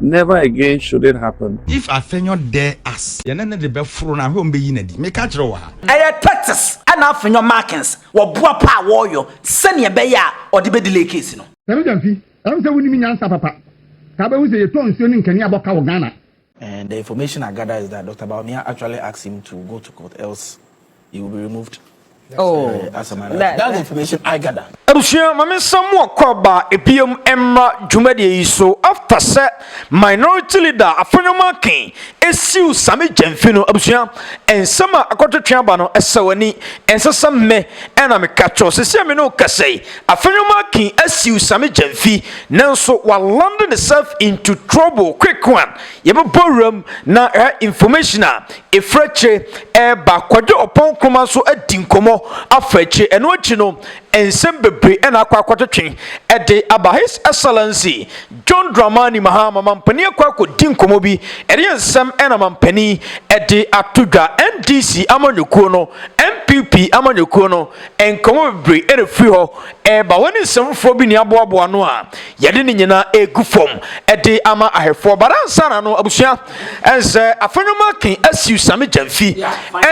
Never again should it happen. If Afenyo dare us. Yɛne no de bɛforo no a, hwɛ wɔn bɛyi no adi. Meka kyerɛ wo ha. Ɛyɛ Curtis ɛna Afenyo Markins wɔboa pa a wɔyɔ sɛnea ɛbɛyɛ a ɔde bɛ delay case no. Yɛbɛ gya mfi. Ɛwom sɛ wonim nyansa papa. Ka wobɛhu sɛ yɛtɔn nsuo ne nkanea bɔ ka wɔ Ghana. And the information I gather is that Doctor Bawumia actually asked him to go to court else You will be removed. Oh, uh, as a man. That, That's the information I gather. abusua maame nsɛm mu ɔkɔ aba ebiem mmra dwumadie yi so after sɛ minority leader afɔnyɔma ken esiw sami gyɛnfi no abusua nsɛm a akɔtwetwe aba no ɛsɛ w'ani ɛnsɛ sɛ mme ɛna meka kyɛw sisi a me ne okasa yi afɔnyɔma ken esiw sami gyɛnfi nanso walande ne self into trouble quick one Yɛbɛbɔ wuram na ɛha information a ɛfiri akyire ɛreba Kwadwo Ɔpɔn Nkrumah nso adi nkɔmmɔ afa akyire. Ɛno akyi no, nsɛm bebree na akɔ akɔtwetwe ɛde aba. His Excellency John Dramani Mahama, Mampanin akɔ akɔdi nkɔmmɔ bi, ɛdeɛn nsɛm na Mampanin ɛde ato dwa? NDC amanyɔkuo no, NPP amanyɔkuo no, nkɔmmɔ bebree na ɛfiri hɔ Ɛba wo ne nsɛmfoɔ bi ne aboaboa no a, yɛde ne nyinaa gu fam de ama ahwɛfoɔ. But ansa na no, abusua, ɛnsɛ afɛnwoma ke asiw Sami Gyamfi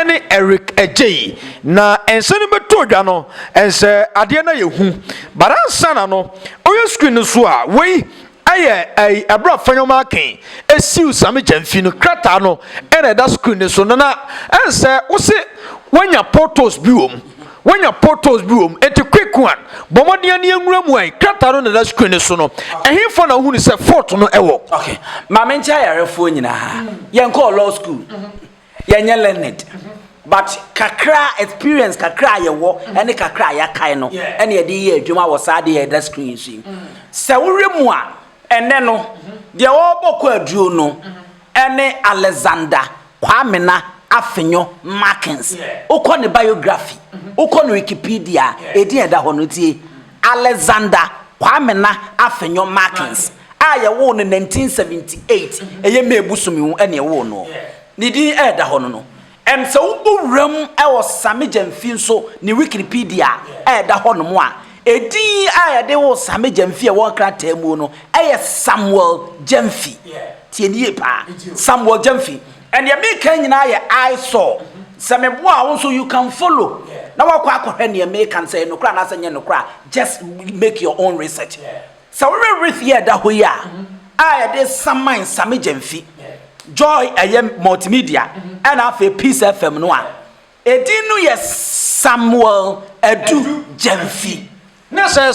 ne Eric Agyei. Na ɛnsɛ no bɛtɔ dwa no, ɛnsɛ adeɛ no ayɛ hu. But ansa na no, woyɛ screen no so a, wei Ɛyɛ ɛyi ɛberɛ a Fanyɔma Aken ɛsiw Same Gyamfi no krataa no na ɛda screen no so no na ɛnsɛ wose wanya photos bi wɔ mu wanya photos bi wɔ mu enti quick one bɔ mmɔden ani ɛnwura mu ɛyi krataa no na ɛda screen no so no ɛhefa na wohunu sɛ fort no ɛwɔ. Okay, Maame nkyɛ ayarefoɔ nyinaa, yɛnkɔɔ law school. Yɛnyɛ learned but kakra experience kakra a yɛwɔ ɛne kakra a yɛakae no ɛna yɛde yɛ adwuma wɔ saa adeɛ a ɛda screen yi so yi. Sɛ wohwɛ mu a ɛnɛ no deɛ ɔrebɔ kwaaduro no ɛne Alexander Kwamena Afenyo Markins. Wokɔ ne biography, wokɔ ne Wikipedia a ɛdin a ɛda hɔ no tie, Alexander Kwamena Afenyo Markins. a yɛwoo no 1978, ɛyɛ May bosome mu na yɛwoo no, ne din a ɛda hɔ no no, ɛm sɛ wobɔ wuram wɔ Sami Gyamfi nso ne Wikipedia a ɛda hɔnom a, edin a yɛde woo Sami Gyamfi a ɛwɔ nkrataa mu no yɛ Samuel Gyamfi. Tie no yie paa, Samuel Gyamfi. Ɛnneɛ meka nyinaa yɛ I saw. Sɛ meboa a wo nso you can follow na woakɔ akɔhwɛ nea meka no sɛ ɛyɛ nokorɛ anaasɛ ɛnyɛ nokorɛ a just make your own research. Sɛ wohwɛ wreath yi a ɛda hɔ yi a, a yɛde saman Sammy Gyamfi, Joy ɛyɛ Multimedia, ɛna afei Peace FM no a, edin no yɛ Samuel Adu Gyamfi. Na sɛ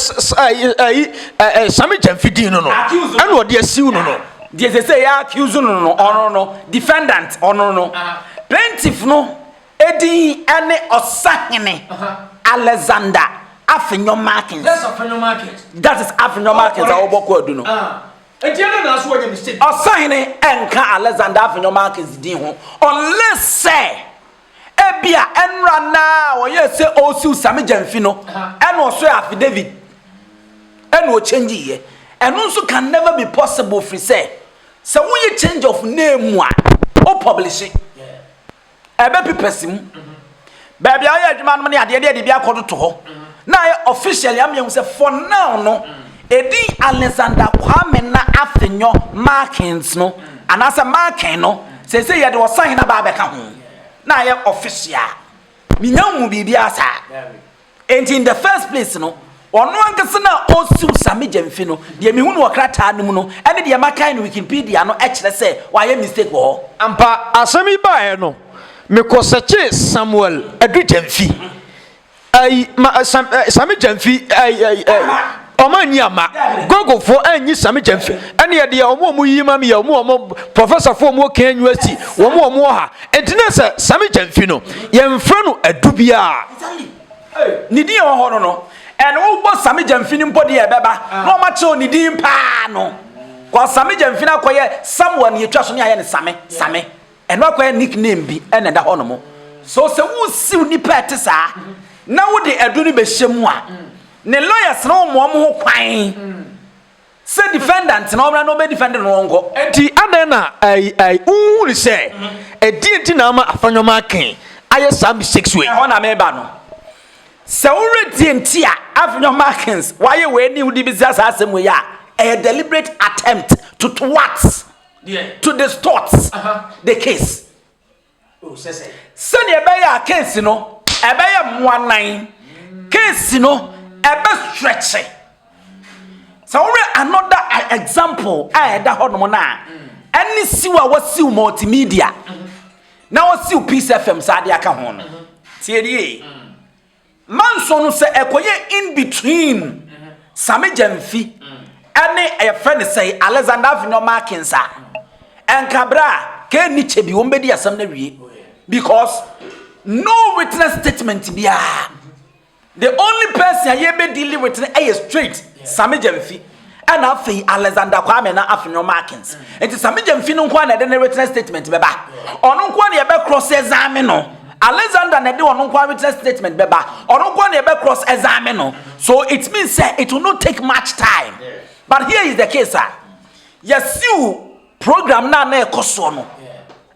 ɛyi Sammy Gyamfi din no no, ɛna ɔde asiw no no. Deɛ sɛ sɛ yɛ accuse no no, ɔno no, defendant, ɔno no, plaintiff no Edin ne Ɔsahene Alexander Afenyo Markins. That is Afenyo Markins a wɔbɔ kwaadu no. Ɔsahene nka Alexander Afenyo Markins din ho unless sɛ ebia ɛnora no a ɔyɛɛ sɛ ɔresiw Same Gyamfi no ɛna ɔsoɛ affidavit ɛna ɔkyɛngye yɛ. Ɛno nso can never be possible firi sɛ sɛ woyɛ change of name a, wopublishe. Ɛbɛpi pɛse mu. Baabi a wɔyɛ adwuma nom ne adeɛ deɛ de bi akɔtoto hɔ. Na ayɛ officially ama yɛhu sɛ for now no, ɛdin Alexander Kwame na Afenyo Markens no, anaasɛ Marken no, seesei yɛde Ɔsahene aba abɛka ho. Na ayɛ official. Menya nhuu biribiara saa. Enti in the first place no, ɔno ankasa no a ɔresiw Sammy Gyamfi no, deɛ mehu no wɔ krataa no mu no ne deɛ makan no Wikipedia no kyerɛ sɛ wayɛ mistake wɔ hɔ. Ampa, asɛm yi baeɛ no, mekɔ searchee Samuel Adu Gyamfi, ai, ma, Sam, ai, Sammy Gyamfi, ai, ai, ai. Wɔn anni amma. Googlefoɔ anyi Sammy James. Ɛne ɛde yɛ wɔn a wɔyi ma me yɛ wɔn wɔn professorfoɔ wɔn kan university wɔn wɔn wɔ ha. Nti ne sɛ Sammy James no yɛmfrɛ no adu biara. Ne din ɛwɔ hɔ no no ɛne wobɔ Sammy James no mpo deɛ ɛbɛba na wɔn akyerɛw ne din paa no. Kɔ Sammy James no akɔyɛ Samuel ne yɛtwa so ne ayɛ no Sammy Sammy. Ɛno akɔyɛ nickname bi na ɛda hɔ nom. So sɛ wosiw nnipa a ɛte saa na wode adu no bɛhyɛ mu a, ne lawyers no wɔ wɔn ho kwan sɛ defendant na ɔmmra na ɔbɛdefend no nkɔ. Enti adɛn na ai ai wonhunu sɛ ɛdeɛn nti na ama Afah Nneɛma Aken ayɛ saa mistakes wei? Ɛhɔ na meba no. Sɛ wowerɛ deɛ nti a Afah Nneɛma Akens wayɛ wei ne wode bɛsua saa asɛm wei a, ɛyɛ deliberate attempt to thwart. to distort the case oh, sɛdeɛ ɛbɛyɛ a case no ɛbɛyɛ mmoa nan case no ɛbɛ stretche sɛ wɔyɛ another example a ɛda hɔ nom no a ɛne siw a wɔsiw multimedia na wɔsiw peace fm saa de aka ho no tiɛdie Manso no sɛ ɛkɔyɛ in between Same Gyamfi ɛne yɛfrɛ no sɛe Alexander Avenor Markins a ɛnka berɛ a kɛɛ ni kyɛ bi wɔn bɛdi asɛm no awie because no witness statement biara the only person a yɛbɛdili with no ɛyɛ straight Same Gyamfi. ɛna afei Alexander Kwame na Afenyo Markins. Nti sɛ megya mfi no nko a na ɛde ne written statement bɛba. Ɔno nko a na yɛbɛ cross examine no. Alexander na ɛde ɔno nko a written statement bɛba. Ɔno nko a na yɛbɛ cross examine no. So it means sɛ it will not take much time. But here is the case a yɛsiw program na na ɛkɔ soɔ no.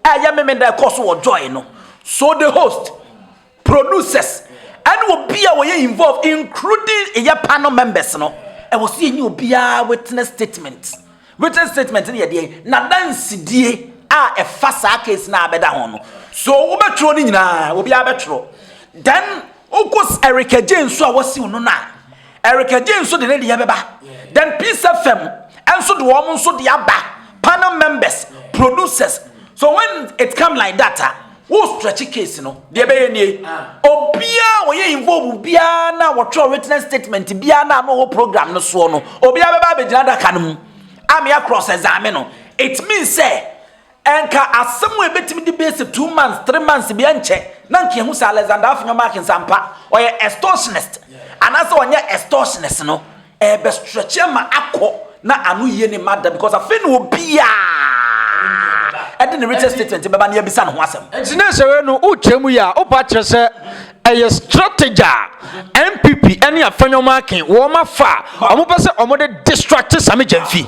Ɛyɛ memenda ɛkɔ so wɔ joy no. So the host producers ɛne obi a wɔyɛ involve including ɛyɛ panel members no ɛwɔ so yɛnya obiara witness statement written statement no yɛdeɛ na dansidie a ɛfa saa case no a bɛda ho no so wobɛtwerɛ no nyinaa obiara bɛtwerɛ then wokɔ Erica Jane nso a wɔsiw no no a Erica Jane nso de ne deɛ bɛba. Then Peace FM nso de wɔn nso de aba. Panel members, producers. So when it come like that ah, wo stretch case no, deɛ bɛyɛ nie. Obiara wɔyɛ involve biara na wɔtwerɛ witness statement biara na ano wɔ program no soɔ no, obiara bɛba abɛgyina adaka no mu. Amea cross examine no. It means sɛ Nka asɛm a ebetumi de bɛyɛ two months, three months biara nkyɛ na nka yɛahu sɛ Alexander Afenyo Markins ampa ɔyɛ extortionist anaasɛ ɔnyɛ extortionist no, ɛrebɛstretche ama akɔ na ano yie ne mma da because afei na obiara de ne written statement bɛba na yɛabisa ne ho asɛm. Nti na nsɛwee no wokyerɛ mu yɛ a wopɛ akyerɛ sɛ ɛyɛ strategy a NPP ne Afenyo Markin wɔafa a wɔpɛ sɛ wɔde distracte Sammy Gyamfi?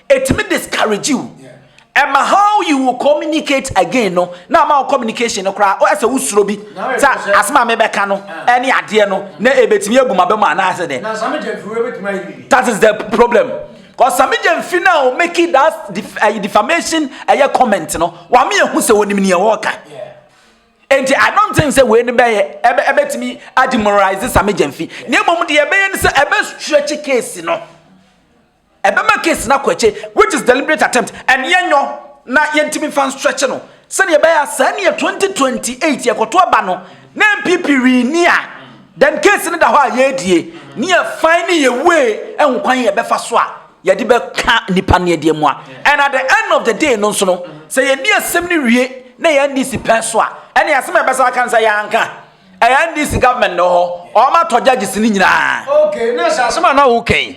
Ɛtumi discourage wo, ɛma how you will communicate again no, na ama wo communication no koraa, ɔyɛ sɛ wosuro bi, sɛ asɛm a mebɛka no ɛne adeɛ no, na ɛbɛtumi abu m'aba mu anaasɛ dɛ. That is the problem. Because Samija mfi na o make that def, uh, defamation ɛyɛ comment no, wame ehu sɛ onim nea wɔka. Enti I don't think sɛ wei no bɛyɛ ɛbɛtumi ademoralize Samija mfi. Nea mmom deɛ ɛbɛyɛ no sɛ ɛbɛ stretch case no. Ɛbɛma case no akɔ akyi which is deliberate attempt and yɛnyɔ na yɛntumi mfa nstretch no sɛdeɛ ɛbɛyɛ a saa neɛ 2028 yɛkɔto aba no na NPP winni a then case no da hɔ a yɛredie ne yɛfan ne yɛ way ɛho kwan yɛbɛfa so a yɛde bɛka nipa no ɛdeɛ mu a and at the end of the day no nso no sɛ yɛni asɛm no wie na yɛn NDC pɛn so a ɛne asɛm a ɛbɛsa aka no sɛ yɛanka ɛyɛ ndc government na ɔhɔ ɔmo atɔ judges ne nyinaa. ok na sɛ asɛm a na wo kɛn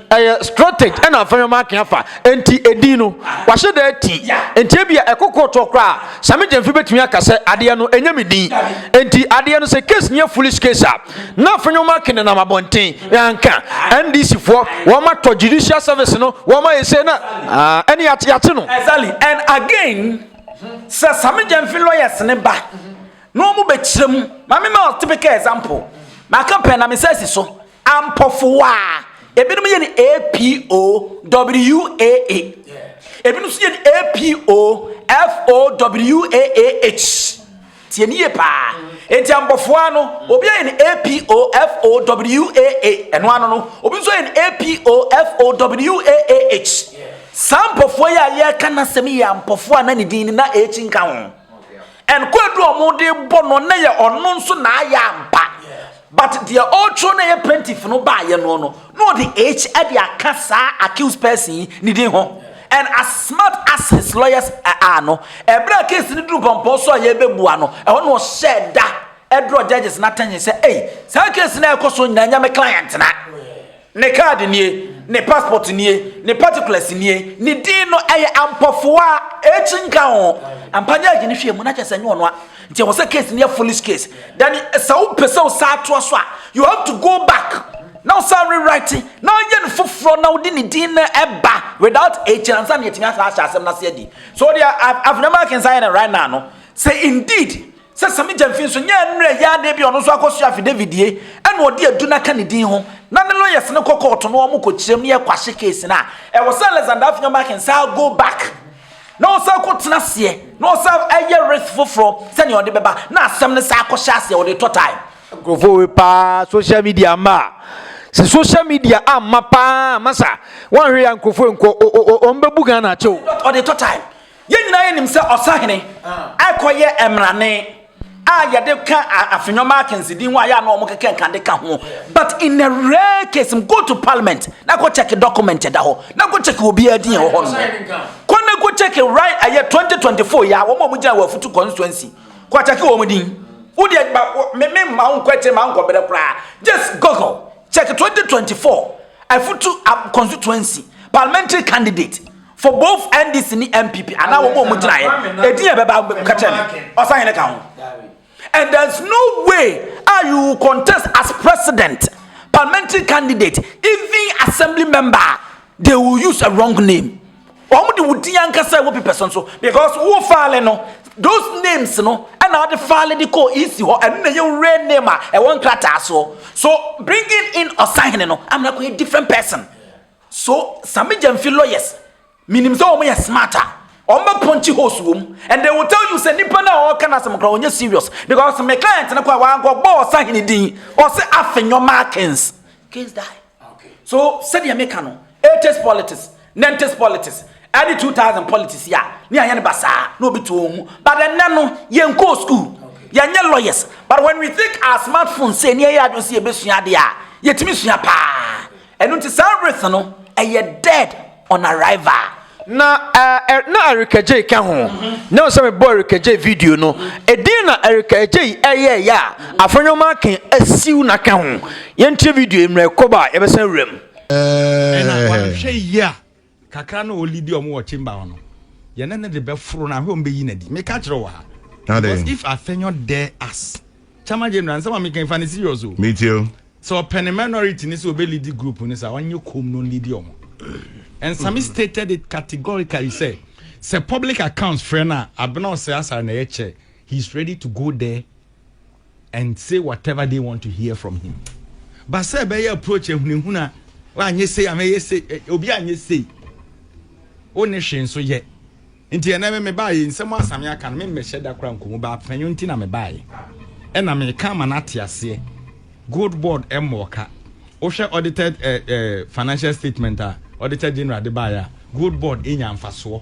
ɛyɛ strategy ɛna afɛn ɔmo akɛn afa nti edin no wahyɛ dɛ ti nti ebi a ɛkɔ kɔɔtoɔ koraa sami gyɛnfi betumi aka sɛ adeɛ no ɛnyɛ mi din nti adeɛ no sɛ case nyɛ foolish case a na afɛn ɔmo akɛn nenam abɔnten yanka ndc foɔ wɔn atɔ judicial service no wɔn ayɛ sɛ na ɛne yate yate no. exactly and again sɛ sami gyɛnfi lawyers ne ba. na ɔmo bɛ kyerɛ mu ma mi ma typical example ma ka pɛ na mi sɛ si so ampɔfo waa ebinom yɛ ni apo waa ebinom so yɛ ni apo fowaah tiɛ ni yɛ paa eti ampɔfo waa no obi yɛ ni apo fowaah ɛno ano no obi nso yɛ ni apo fowaah saa ampɔfo yɛ a yɛ ka na sɛm yɛ ampɔfo a na ne din ni na akyi nka ho. And kwadu a wɔn de bɔ no na yɛ ɔno nso na ayɛ ampa. But deɛ ɔretwerɛ na yɛ plaintiff no baayɛ no no na ɔde H de aka saa accused person yi ne din ho. And as smart as his lawyers are no, ɛberɛ a case no duru pɔmpɔ so a yɛrebɛbua no, ɛhɔ na ɔhyɛɛ da ɛdorɔ judges no attention sɛ ei saa case no a ɛkɔ so nyinaa nyɛ me client na. Ne card nie, ne passport nie, ne particulars nie, ne din no ɛyɛ ampɔfoa, ɛkyi nka ho. Ampa nyɛ agye ne hwɛ mu na kyɛ sɛ nyɛ ɔno a. Nti ɛwɔ sɛ case no yɛ foolish case. Then sɛ wo pɛ sɛ wo saa toa so a, you have to go back. Now sir rewrite, now yɛ no foforɔ na wode ne din no ɛba without H na nsa na yɛtumi asa ahyɛ asɛm no ase adi. So deɛ Afenema Akensan yɛ no right now no, sɛ indeed Sɛ Samija mfi nso, nyɛ mmerɛ yi ara bi a ɔno nso akɔsoa afidavitdie na ɔde adu no aka ne din ho na ne lawyers no kɔ kɔɔto na wɔkɔkyerɛm na yɛkwahye case no a, ɛwɔ sɛ Alexander Afenyo-Markin san go back na ɔsan kɔtena aseɛ na ɔsan yɛ risk foforɔ sɛnea ɔde bɛba na asɛm no san kɔhyɛ aseɛ, ɔde tɔ time. Nkurɔfoɔ wei paa social media amma a, sɛ social media amma paa a, masa, woanhwɛ yɛ a nkurɔfoɔ wei nkɔ, o-o-o, wɔbɛbu Ghana akyɛ o. Ɔde tɔ time. Yɛn nyinaa yɛnim sɛ ɔsahene ɛkɔyɛ mmrane a yɛde ka afenyɔma akɛnsidi ho a yɛ anɔ ɔmo kɛkɛ nkande ka ho but in a rare case go to parliament na kɔ check document ɛda hɔ na kɔ check obi adi yɛn wɔ hɔ no kɔ na kɔ check right ɛyɛ 2024 yɛ a wɔn a wɔn gyina wɔ afutu constituency kɔ check wɔn din wo deɛ ba me me ma wo nkɔ akyire ma nkɔ bere koraa just google check 2024 afutu constituency parliamentary candidate. for both ndc ne npp anaa wɔn a wɔn gyinaeɛ edin yɛ bɛba kakyɛ mi ɔsanyɛne ka ho and there is no way a you will contest as president parliamentary candidate even assembly member they will use a wrong name wɔn de wo din ankasa ɛwɔ pipɛ so nso because wo faale no those names no ɛna ɔde faale de kɔ esi hɔ ɛno na yɛ real name a ɛwɔ nkrataa so so bringing in ɔsahene no amena kɔ yɛ different person. So Sammy Gyamfi lawyers menim sɛ wɔn yɛ smart a wɔn bɛ punch holes wɔ mu and they will tell you sɛ nipa no a ɔka n'asɛm kora ɔnyɛ serious because me client no kora wankɔ bɔ ɔsahene din ɔsɛ afenyɔ markins case die so sɛdeɛ meka no 80s politics 90s politics ɛne 2000 politics yɛ a ne ayɛ no basaa na obi tuo ho but ɛnɛ no yɛnkɔɔ school yɛnyɛ lawyers but when we think our smartphone sɛ ne ɛyɛ adwo sɛ yɛbɛsua adeɛ a yɛtumi sua paa Ɛno nti saa wreath no ɛyɛ dead on arrival. Na eh, na Erika Jay ka ho na sɛ mebɔ Erika Jay video no ɛdin na Erika Jay ɛyɛ yɛ a afɔnwoma ake asiw na ka ho yɛntie video mmerɛ kɔba a yɛbɛsan wuram. Eh. Kakra no a ɔlidi ɔmo wɔ chamber hɔ no, yɛne no de bɛforo no ahwɛ ɔmo bɛyi no adi. Meka kyerɛ wo wɔ ha. Because if Afenyo dare us, Chairman General, nsɛm a meka yi fa no serious o. Metie o. Sɛ ɔpɛ ne minority no sɛ ɔbɛlidi group no saa, ɔnyɛ komm na ɔnlidi ɔmo. Nsame stated it categorically sɛ, sɛ public accounts frɛ no a, Abena Osei Asare na ɛyɛ chair, he is ready to go there. and say whatever they want to hear from him but sɛ ɛbɛyɛ approach ahunahuna wanyɛ sei amɛyɛ sei eh, obi anyɛ sei wo ne hwee nso yɛ nti ɛnɛ me mebaeɛ nsɛm asame aka no memmɛhyɛ da kora nkɔmu baa panyɔ nti na mebaeɛ ɛna meka ma no ate aseɛ gold board mmɔɔ ka wohwɛ audited eh, eh, financial statement a auditor general de baeɛ a gold board ɛnya mfasoɔ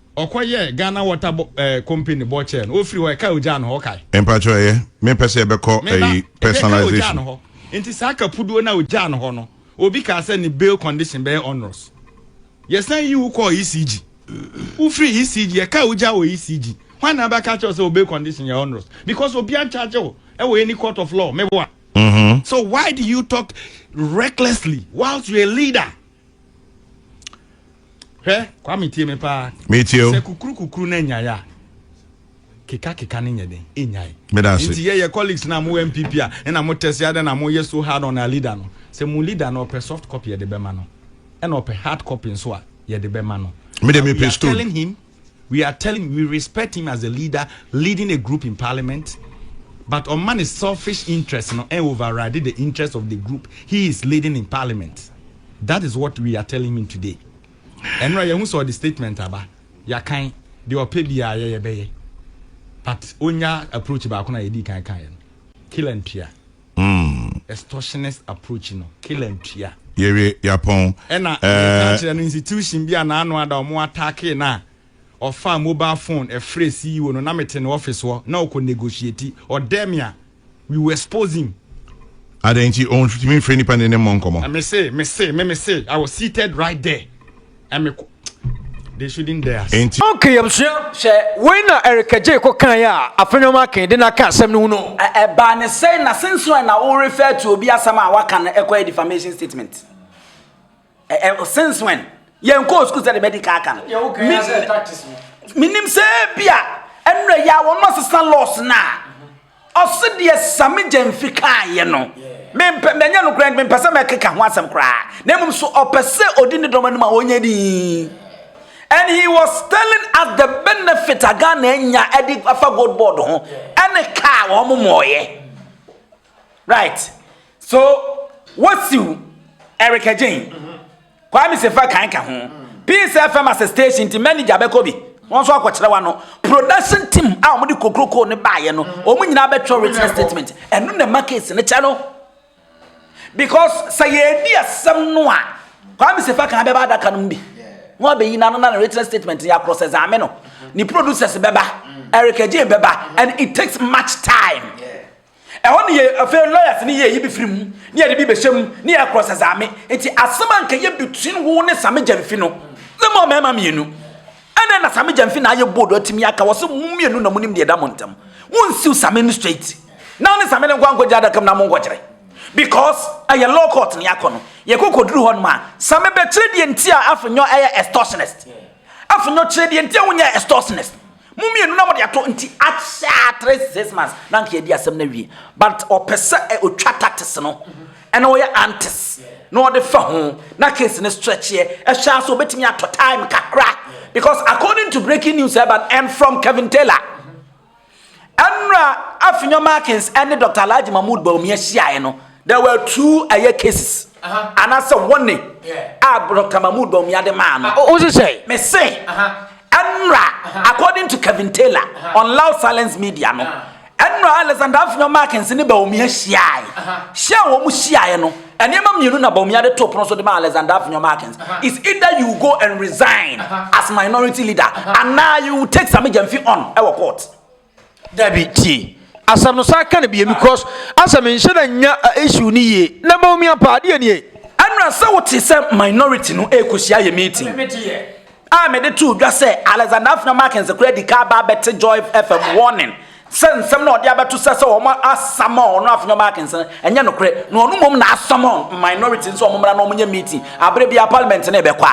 ɔkɔ yɛ Ghana water bo ɛɛ company bɔ kyɛɛ no ofiri hɔ ɛka ogyaa no hɔ ɔkae. Mpakyɛw ɛyɛ me pɛ sɛ yɛbɛkɔ ɛyi personalization. Nti saa kapuduo no a ogyaa no hɔ no obi kaa sɛ ne bail condition bɛyɛ onerous yɛsan yi wo kɔɔ ECG wofiri ECG yɛkaa ogyaa wɔ ECG hwan na abɛka kyɛw sɛ wo bail condition yɛ onerous because obi ancharge wo ɛwɔ any court of law meboa. Mm-hmm. So why do you talk recklessly whilst you're a leader? hwɛ kwame tie me paa metie o sɛ kukuru kukuru na nyaeɛ a keka keka ne nyɛ den ɛnyae nti yɛyɛ colleagues na mo mpp a ɛna mo tɛse adɛ na moyɛ so hard on our leader no sɛ mo leader no ɔpɛ soft copy yɛde bɛma no ɛna ɔpɛ hard copy nso a yɛde bɛma no mede mepɛ stone We are telling we respect him as a leader leading a group in parliament but ɔma ne selfish interest no ɛn override the interest of the group he is leading in parliament that is what we are telling him today ɛnora yɛhu sɛ ɔde statement aba yɛakan deɛ ɔpɛ biara yɛyɛ bɛyɛ but onya approach baako na yɛdi kan kan yɛ no kila ntua mm. Extortionist approach no killer ntua. Yɛwie yɛapɔn ɛna eh. meka kyerɛ no institution bi a n'ano ada ɔmo attackee no a ɔfaa mobile phone ɛfrɛ CEO no na mete ne office hɔ na ɔkɔ negotiate ɔdɛɛ me a we will expose him Adɛn nti ɔntumi mfrɛ nipa ne ne mmɔ nkɔmmɔ? Mese, mese, me mese, I was seated right there. Ɛme ko They shouldn't dare say. Enti. Okay abusua sɛ wei na Erika Jay kɔ kaeɛ a afe nneɛma akee de no aka asɛm no ho no. Ɛ ɛbaa ne sɛn na since when na wo refer to obi asɛm a waka no ɛkɔyɛ defamation statement? Ɛ ɛ since when? Yɛn kɔɔ school sɛ de bɛdi ka aka no. Yɛ wo kɛn asɛ tactics no. Menim sɛ ebia ɛnura yi a wɔn asesa laws na Ɔse deɛ Sammy Gyamfi kaeɛ no, mempɛ, ɛnyɛ nokorɛ nti mempɛ sɛ mɛkeka ho asɛm koraa, na mmom so ɔpɛ sɛ ɔdi ne dɔm anim a ɔnyɛ dinn. And he was telling us the benefit a Ghana anya de afa gold board ho ɛne kaa wɔn mmɔɔyɛ. Right. So, wasiw Eric Agyen. Kwame Sefa kan ka ho. Peace FM as a station nti manager bɛkɔ bi. Wɔn nso akɔkyerɛ wa no. Production team a wɔn de kokroko no baayɛ no, wɔn nyinaa bɛtwerɛ written statement. Ɛno na ɛma case no kyɛ no. Because sɛ yɛredi asɛm no a, Kwame Sefa kan bɛba adaka no mu bi. Na wabɛyi n'ano na ne written statement no yɛakorɔ sɛ Zame no. Ne producers bɛba, Eric Ajay bɛba, and it takes much time. Ɛhɔ no yɛ afei lawyers no yɛ yi bi firi mu ne yɛde bi bɛhyɛ mu ne yɛ cross examine nti asɛm a nkɛyɛ between wo ne Same Gyamfi no ne mo mmarima mmienu ɛnna na Same Gyamfi na ayɛ bold ɔtumi aka wɔ sɛ mo mmienu na mo nim deɛ ɛda mo ntam wonsiw Same no straight na ne Same no nkɔ ankɔgye adaka mu na mo nkɔkyerɛ because ɛyɛ law court ne akɔ no yɛkɔ kɔduru hɔ no ma Same bɛkyerɛ deɛ nti a afenyɔ ɛyɛ extortionist afenyɔ kyerɛ deɛ nti a wonyɛ extortionist Mo mmienu na mo de ato nti ahyɛ a three to six months na anka yɛadi asɛm no awie but ɔpɛ sɛ ɛ ɔtwa tatis no ɛna ɔyɛ antis na ɔde fa ho na case no stretcheɛ ɛhwɛ a sɛ ɔbɛtumi atɔ time kakra because according to breaking news ɛba no and from Kevin Taylor ɛnura Afinyo Markins ɛne Dr. Alhaji Mahmood Bawumia hyiaeɛ no There were two ɛyɛ cases. Anaasɛ wɔne a Dr. Mahmoud Bawumia de maa no. Wo se sɛn? Me se, ɛnora according to Kevin Taylor on Loud Silence Media no, ɛnora Alexander Afenyo Markins ne Bawumia hyiae. Hyia a wɔn hyiaeɛ no, nneɛma mmienu na Bawumia de too pono so de ma Alexander Afenyo Markins. It's either you go and resign as minority leader anaa you take Sammy Gyamfi on ɛwɔ court. Dabi tie asɛm no saa ka no bie because asɛ menhyɛ da nya issue no yie na ma omi apa adeɛ nie. Ɛnna sɛ wote sɛ minority no ɛrekɔhyia yɛ meeting a mede too dwa sɛ Alexander Afena Markins koraa di ka aba abɛte Joy FM warning sɛ nsɛm na ɔde abɛto sɛ sɛ wɔn asama ɔno Afena Markins no ɛnyɛ nokorɛ na ɔno mmom na asama minority nso wɔn mmra na wɔn nyɛ meeting abere bia parliament no ɛbɛkɔ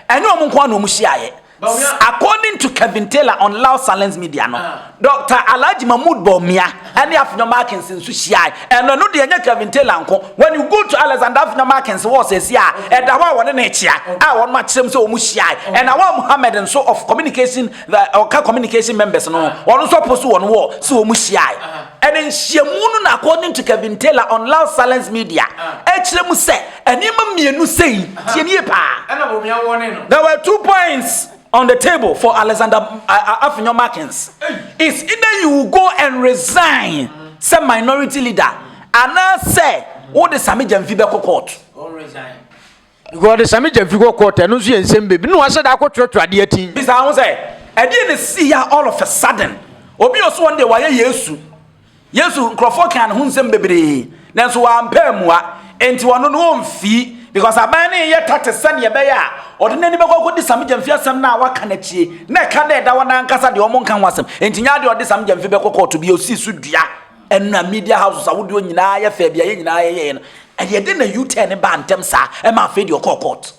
a ɛnyɛ wɔn nko a na wɔn hyiaeɛ According to Kevin Taylor on Loud Silence Media no, Doctor Alhaji Mahmood Bawumia ne Afenyo Markins nso hyiae. Ɛno ɛno deɛ ɛnyɛ Kevin Taylor nko. When you go to Alexander Afenyo Markins wɔ sɛsi a, ɛda hɔ a wɔne no rekyea a wɔn akyerɛ mu sɛ wɔn hyiae. And Awal Muhammad nso of communication the ɔka communication members no ho, wɔn nso apost wɔn wɔ sɛ wɔn hyiae. And nhyiamu no na according to Kevin Taylor on Loud Silence Media ɛkyerɛ mu sɛ, Nneɛma mmienu sei, tie nie paa. Ɛna wɔn ya wɔne no. There were two points on the table for Alexander uh, Afenyo Markins. It's either you go and resign sɛ minority leader anaasɛ wode Sami Gyamfi bɛkɔ court. Wɔde Sami Gyamfi kɔ court ɛno nso yɛ nsɛm bebi na wɔahyɛ da akɔtoatoa adeɛ atin. Bisa ho sɛ ɛdeɛ na si ya all of a sudden obi ɔso wɔn deɛ wɔayɛ Yesu. Yesu nkurɔfoɔ kaa ne ho nsɛm bebree nanso wampa ammua, enti ɔno no ɔmfii, because aban no reyɛ tactics sɛdeɛ ɛbɛyɛ a ɔde n'ani bɛkɔ akɔdi Sam Gyamfi asɛm no a waka no akyire, na ɛka dɛ ɛda hɔ na ankasa deɛ wɔnka ho asɛm, enti nyɛ adeɛ a ɔde Sam Gyamfi bɛkɔ kɔɔto bio si so dua, ɛna media houses ahodoɔ nyinaa yɛ fɛɛ deɛ yɛn nyinaa yɛyɛeɛ no, ɛdeɛ dɛn na U-turn baa ntɛm saa ma afei deɛ ɔkɔɔ court?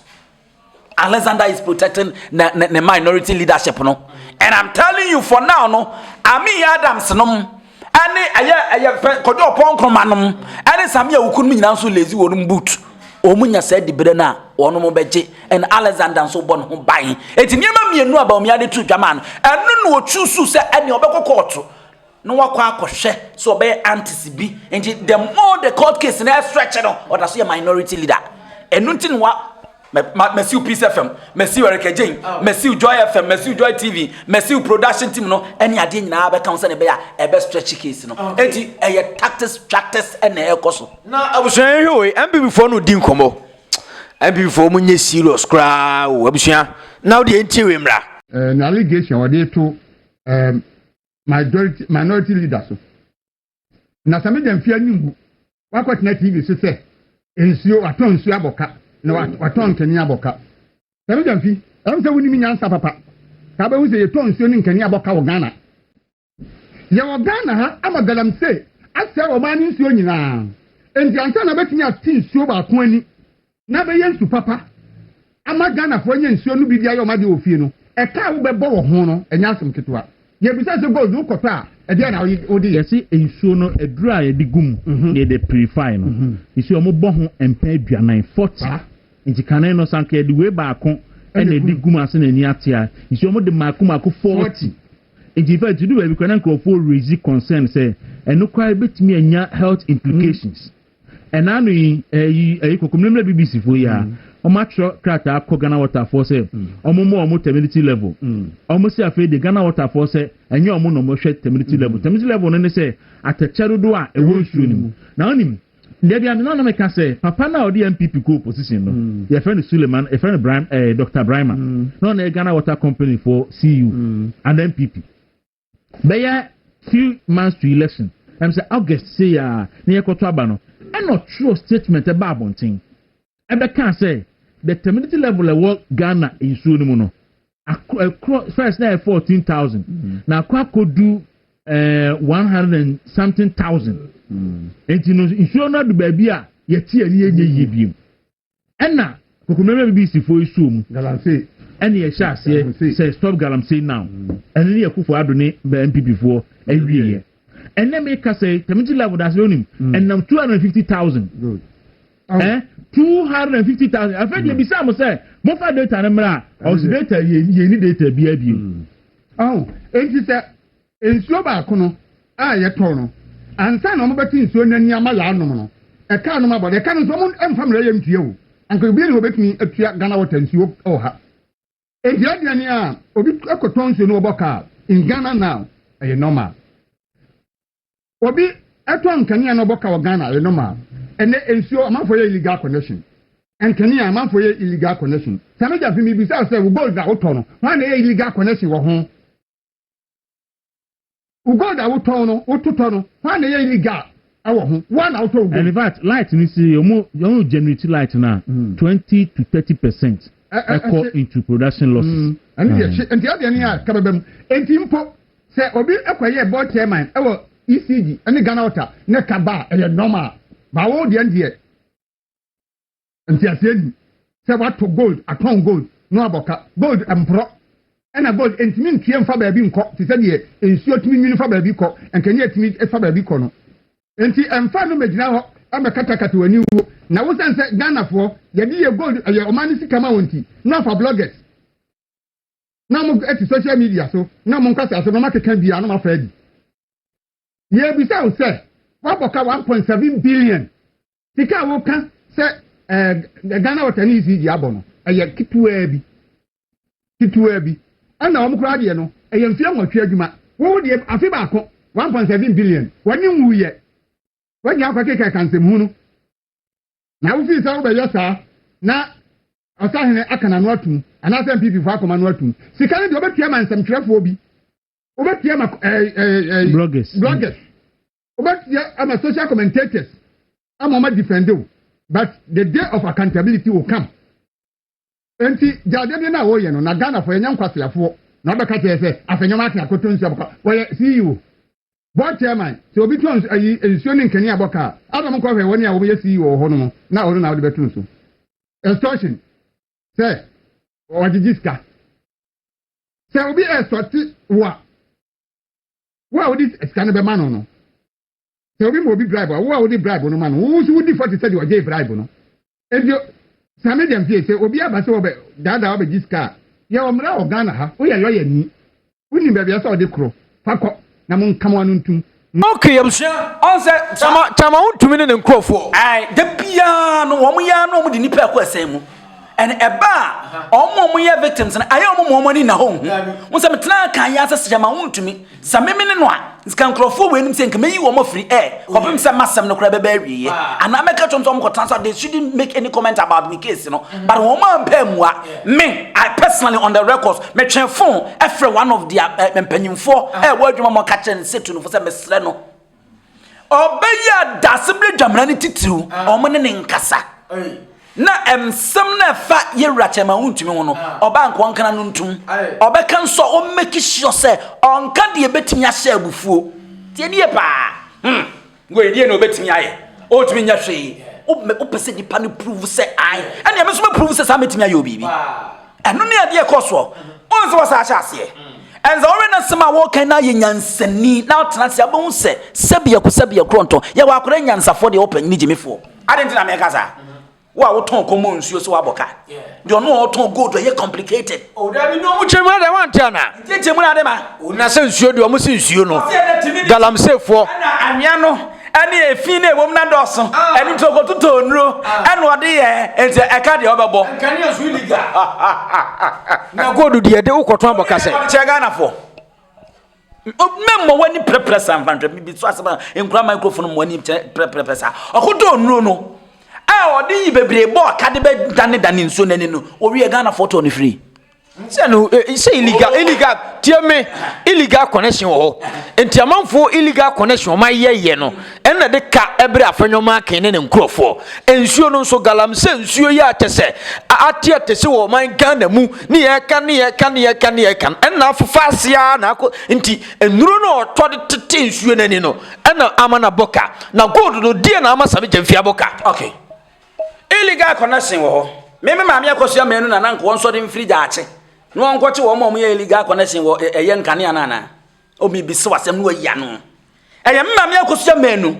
Alexander is protecting ne ne ne minority leadership no and i'm telling you for now no ami adams nom ɛne ɛyɛ ɛyɛ fɛ kɔdɔ ɔpɔn nkroma nom ɛne sami awuku nom nyinaa nso lezi wɔn boot wɔn nya saa dibere no a wɔn mo bɛgye ɛna alexander nso bɔ ne ho ban eti nneɛma mmienu a baomi ade tu dwama no ɛno na otu su sɛ ɛne ɔbɛkɔ kɔɔto na wakɔ akɔhwɛ sɛ ɔbɛyɛ antis bi nti the more the court case na ɛstretch no ɔda so yɛ minority leader ɛno nti no wa masiw peace fm masiw ɛrekɛgyen masiw joy fm masiw joy tv masiw production team no ɛne adeɛ nyinaa bɛka ho sɛne ɛbɛyɛ a ɛbɛ stretch case no ɛnti ɛyɛ tactics practice ɛna ɛkɔ so na abusua yɛhwɛ wei mpp foɔ no di nkɔmmɔ mpp foɔ mu nyɛ serious koraa o abusua na wodeɛ ntie wei mmra eh, na allegation wɔde to eh, majority minority leader so na sɛ meda mfie anim gu wakɔtena tv so sɛ nsuo watɔn nsuo abɔka na watɔn nkani abɔka sɛ meda mfi ɛm sɛ wonim nyansa papa saa bɛhu sɛ yɛtɔn nsuo ne nkani abɔka wɔ ghana yɛwɔ ghana ha ama galamsey asɛe ɔman no nsuo nyinaa enti ansa na bɛtumi ate nsuo baako ani na bɛyɛ nsu papa ama Ghanafoɔ anya nsuo no bi de ayɛ wɔn adeɛ wɔ fie no, ɛka a wobɛbɔ wɔ ho no, ɛnyɛ asɛm ketewa. Yɛbisa sɛ, Gold wokɔtɔ a, ɛdeɛn na wode yɛ? Yɛse nsuo no, aduro a yɛde gu mu na yɛde apurifai no, yɛse wɔbɔ ho mpɛn aduanan, forty. Nti kane no, sɛ anka yɛde wei baako na ɛde gu mu ase na ani ate a, yɛse wɔde mmaako mmaako, forty. Nti in fact, ɛduru baabi koraa na nkurɔfoɔ raise concern sɛ, ɛno koraa bɛtumi anya health implications. Ɛna ano yi, ɛyi ɛyi kɔkɔmmerɛmmerɛ BBC foɔ yi a, wɔn mm. atwerɛ krataa kɔ Ghana Water foɔ sɛ, mm. wɔn mmɔ wɔn terminity level. Mm. Wɔn si afei de Ghana Water foɔ sɛ, ɛnyɛ wɔn na wɔn hwɛ terminity level. Terminity level no ne sɛ, atɛkyɛ dodoɔ a ɛwɔ nsuo no mu. Na wɔn nim, deɛ bi amena na meka sɛ, papa no a ɔde MPP kɔ opposition no, yɛfrɛ no Suleiman, yɛfrɛ no Brahim, ɛɛ eh, Dr. Brahima. Na ɔno yɛ Ghana Water Company foɔ CEO, and MPP. Bɛyɛ three months to election, ɛm sɛ August sei a na yɛkɔto aba no, ɛna ɔtwerɛɛ statement ɛbaa abɔnten ɛbɛkaa sɛ the terminity level ɛwɔ Ghana nsuo no mu no akɔ ɛkorɔ first na ɛyɛ fourteen thousand mm. na akɔ akɔdu ɛɛ eh, one hundred and something thousand mm. nti no nsuo no adu baabi a yɛte ani yɛnyɛ yie biem. Ɛna kokommerɛmmerɛ BBCfoɔ yi soo mu. Galamsey. Ɛna yɛhyɛ aseɛ sɛ stop Galamsey now. Ɛno ne Akufo Addo ne NPPfoɔ awieɛ. Ɛnɛ mekasa yi, Tamiti Love Odasebe wonim, ɛnam two hundred and fifty thousand. Good. Eh, two hundred and fifty thousand. Afei deɛ bisa mo sɛ mofa data no mmra a, ɔsi data yɛnni data biara bio. Ahu, enti sɛ Nsuo baako no a yɛtɔn no, ansa na wɔbɛte nsuo no ani ama yɛanom no, ɛka nom abɔ. Na ɛka no nso, wɔmfa mmerɛ yɛ ntua o. Anka obiara nni hɔ a ɔbɛtumi atua Ghana Water nsuo wɔ ha. Enti adea ni a, obi kɔtɔn nsuo no ɔbɔ ka a, in Ghana now, ɛyɛ normal. Obi tɔn nkanea na ɔbɔ ka wɔ Ghana, ɛyɛ normal. Ɛnnɛ nsuo, amanfoɔ yɛ illegal connection. Nkanea, amanfoɔ yɛ illegal connection. Samija Fi, mebisa wo sɛ, wo gold a wotɔ no, hwan na ɛyɛ illegal connection wɔ ho? Wo gold a wotɔn no, wototɔ no, hwan na ɛyɛ illegal ɛwɔ ho? Wo na wotɔ wo gold. In fact, light ni si yɛ mo yɛ mo generate light na hmm. twenty to thirty percent ɛkɔ into production losses. Hmm. Ɛni deɛ kye nti ɛdeɛ ni a hmm. kabɛbɛ mu nti mpo sɛ obi ɛkɔ yɛ board chairman ɛwɔ ECG ɛne Ghana water ne kaba ɛyɛ normal baawo deɛ deɛ. nteaseɛ ni sɛ wato gold atɔn gold na wabɔ ka gold mporɔ ɛna gold ntumi ntue mfa baabi nkɔ te sɛ deɛ nsuo tumi nwini fa baabi kɔ nkanea tumi fa baabi kɔ no nti ɛmfa no mɛgyina hɔ ɛmɛkatakata w'ani wuo na wosane sɛ ghanafoɔ yɛde yɛ gold ɛyɛ ɔman no sika ma wɔn nti na afa bloggers na wɔn ɛte social media so na wɔn nkasa so na wɔn akeka bia na wɔn afa adi yɛbisa wo sɛ wabɔ ka one point seven billion Sika a woka sɛ ɛɛ Ghana Water ne ECG abɔ no, ɛyɛ ketewaa bi. Ketewaa bi. Ɛna wɔn koraa deɛ no, ɛyɛ mfeɛ nwɔtwe adwuma. Wo deɛ afe baako, one point seven billion. W'ani nwuiɛ. W'anya akɔkekaka nsɛmhunu. Na wofii sɛ wobɛyɛ saa, na ɔsahene aka n'ano atum, anaasɛ NPP foɔ akɔma no atum. Sika no deɛ wobɛtua ma nsɛmtwerɛfoɔ bi. Wobɛtua ma ɛɛ ɛɛ ɛɛ. Bloggers. Bloggers. Wobɛteɛ ama social commentators ama wɔn adifɛnde wo but the day of accountability will come. Nti gya adeɛ no a wɔyɛ no na Ghanafoɔ yɛnyɛ nkwaseafoɔ na wobɛka kyerɛ sɛ afei nneɛma ate akoto nsuo abɔka wɔyɛ CEO board chairman sɛ obi tɔn ayi nsuo ne nkanea abɔka a adam nkɔhwɛ wɔn a wɔyɛ CEO wɔ hɔ no mu na ɔno na wode bɛto nso extortion sɛ ɔgyegye sika sɛ obi ɛsɔte wo a Wo a wode sika no bɛma no no, sɛ obi ma obi bribe a, wo a wode bribe no ma no, wo nso wodi fɔ te sɛ deɛ ɔgyee bribe no. Enti saa media mfie sɛ obi aba sɛ ɔbɛ daadaa ɔbɛgye sika a, yɛwɔ mmara wɔ Ghana ha, woyɛ lɔyani, wonim baabi a ɛsɛ sɛ ɔde koro, fa kɔ na monka mo ano ntom. Ok yɛ busua ɔn sɛ kyama kyama wontumi ne ne nkurɔfoɔ. Ae da biaa no wɔn yɛ ara na wɔn de nipa ɛkɔ ɛsɛn mu. And ɛba a, wɔn a wɔyɛ victims no, ayɛ wɔn ma wɔn ani nna hɔ nhu. Wɔn sɛ metena kan yɛ asɛ sɛ ma wɔntumi. Sɛ meme ne no a, nka nkurɔfoɔ wɔ anim sɛ nka meyi wɔn afiri ɛ, kɔpem sɛ masɛm no koraa bɛbɛ awieɛ. Anaa mɛka kyerɛ wɔn sɛ wɔn kɔtena so, they shouldn't make any comment about me case no. But wɔn ampɛ ammua. Me, I personally on the records, metwe phone ɛfrɛ one of their uh, mpanyinfoɔ ɛwɔ adwuma mu ɔka kyerɛ no sɛ tunufo sɛ mesrɛ no. Ɔbɛyɛ a dase bere dwamena no titiriw wɔn ne ne nkasa. Na nsɛm na ɛfa yɛwura kyɛma wontumi ho no, ɔbaa nkoa nkana no ntom. Ɔbɛka nso a ɔmmɛki sure sɛ ɔnka deɛ ɛbɛtumi ahyɛ abufuo. Tie nie paa. Hmm, wei deɛ na ɔbɛtumi ayɛ. Ɔntumi nyɛ hwee. Wopɛ sɛ nipa no prove sɛ ae. Ɛnea me nso mɛ prove sɛ saa mɛtumi ayɛ obibi. Ɛno ne adeɛ ɛkɔ soɔ. Wohu sɛ wɔsaa hyɛ aseɛ. Ɛne sɛ wɔwɛ no sɛm a wɔkan no ayɛ nyansani na wotena ase abɛhu sɛ sɛbi ɛko sɛbi ɛkorɔ ntɔ. Yɛwɔ akɔrɛ nyansafoɔ deɛ wɔpɛ ne gyimifoɔ. Ade nti na mɛka saa. Wo a wotɔn kɔmmɔ nsuo sɛ wabɔ ka. Deɛ ɔno a ɔtɔn gold ɛyɛ complicated. O dabi na ɔmo kyɛmu adɛ wante anaa. Nkyɛkyɛmu na adɛ ma. O na sɛ nsuo deɛ ɔmo se nsuo no. Galamseyfoɔ. Ɛna anwea no. ɛne efi na ɛwom na dɔɔso ah. ɛno nti ɔkɔtotɔ nnuro ah. ɛna ɔde yɛ nti ɛka deɛ ɔbɛbɔ na gold deɛ de wokɔtɔ abɔ kasɛ kyɛ ghanafoɔ mɛmmɔ w'ani prɛprɛ sa mfanhwɛ bibi so asɛm a nkura microphone mmɔ ani prɛprɛprɛ sa ɔkɔtɔ nnuro no a ɔde yi bebree bɔ ɔka de bɛdanedane nsuo no ani no ɔwie ghanafoɔ tɔ no firi sɛ no eh, sɛ illegal illegal tie me illegal connection wɔ hɔ nti amanfoɔ illegal connection ɔma yɛyɛ no ɛna de ka ɛberɛ afɛnwɔma aken ne ne nkurɔfoɔ nsuo no nso galam sɛ nsuo yɛ akyɛ sɛ ate ate sɛ wɔ ɔman ghana mu ne yɛka ne yɛka ne yɛka ne yɛka ɛna afofa aseɛ na akɔ nti nnuro no ɔtɔ de tete nsuo no ani no ɛna ama na bɔka na gold no deɛ na ama same gyamfia bɔka okay Illegal connection wɔ hɔ. Me me maame akɔsua mmienu na nanka wɔn sɔre mfiri gyaakye na wɔn nkɔkye wɔn a wɔyɛ illegal connection wɔ ɛyɛ nkanea no anaa omi bi se wasɛm no wayi ano ɛyɛ me maame akɔsua mmienu